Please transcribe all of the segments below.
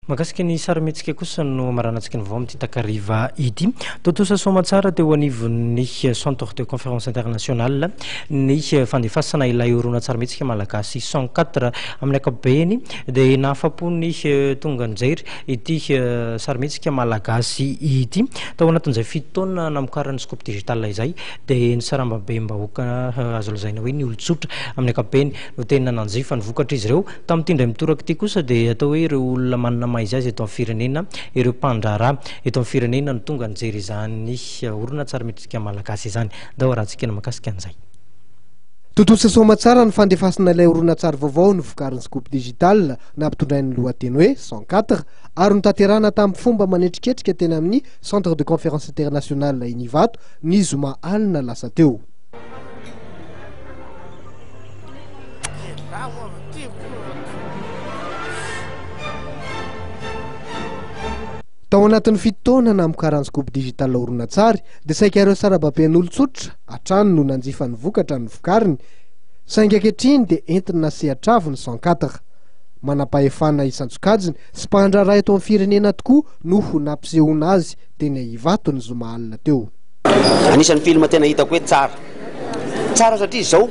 Mahakasika ny sarimihetsika kosa no maranan-tsika ny vaovao amin'ity takariva ity. Tontosa soamantsara teo anivon'ny Centre de Conférence Internationale ny fandefasana ilay horonantsarimihetsika malagasy cent quatre. Amin'ny ankapobeny dia nahafa-po ny tonga nijery ity sarimihetsika malagasy ity. Tao anatin'izay fito taona namokaran'ny Scoop Digital izay dia ny sarambabem-bahoaka azo lazaina hoe ny olon-tsotra amin'ny ankapobeny no tena nanjifa ny vokatr'izy ireo. Tamin'ity indray mitoraka ity kosa dia atao hoe ireo olona manana maha izy azy eto amin'ny firenena, ireo mpandraharaha eto amin'ny firenena no tonga nijery izany horonantsary Metrisika Malagasy izany. Ndao arahantsika ny mahakasika an'izay. Tontosa soamatsara ny fandefasana ilay horonantsary vaovao novokarin'ny Scoop Digital nampitondrainy ny lohateny hoe Cent quatre ary notanterahina tamin'ny fomba manetriketrika teny amin'ny Centre de Conférence International eny Ivato ny zoma alina lasa teo. Tao anatin'ny fito taona namokarany Scoop Digital horonantsary dia saika ireo sarababen'olon-tsotra hatrany no nanjifa ny vokatra novokariny saingy ankehitriny dia entina sehatr'avo ny cent quatre. Manam-pahefana isan-tsokajiny sy mpandraharaha eto amin'ny firenena tokoa no ho nampisehoana azy teny Ivato ny zoma alina teo. Anisan'ny film tena hitako hoe tsara. Tsara satria izao,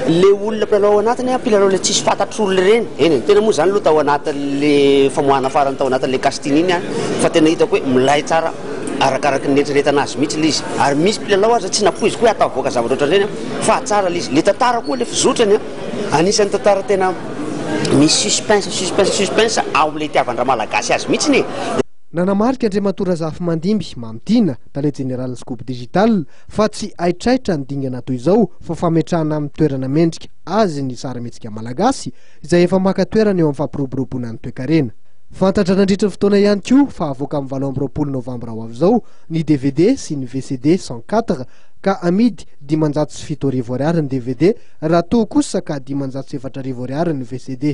ilay olona mpilalao ao anatiny an, mpilalao ilay tsisy fantatr'olona ireny, eny e, tena moa izany aloha tao anatin'ilay famoahana farany tao anatin'ilay casting iny an, fa tena hitako hoe milay tsara arakaraky ny nieritreretana azy mihitsy ilay izy, ary misy mpilalao aza tsy nampoiziko hoe hahatafavoaka zavatra ohatran'ireny an, fa tsara ilay izy, ilay tantara koa ilay fizotrany an, anisan'ny tantara tena misy suspense, suspense, suspense ao amin'ilay itiavan-dramalagasy azy mihitsy e. Nanamarika Andriamatoa Razafimandimby Mamy Tiana, Tale Jeneralin'ny Scoop Digital, fa tsy haitraitra ny dingana toy izao fa fametrahana amin'ny toerana mendrika azy ny sarimihetsika malagasy izay efa maka toerana eo amin'ny fampiroboroboana ny toekarena. Fantatra nandritry ny fotoana ihany koa fa havoaka amin'ny valo amby roapolo novambra ho avy izao ny dvd sy ny vcd cent quatre ka amidy dimanjato sy fito arivo ariary ny dvd raha toa kosa ka dimanjato sy efatra arivo ariary ny vcd.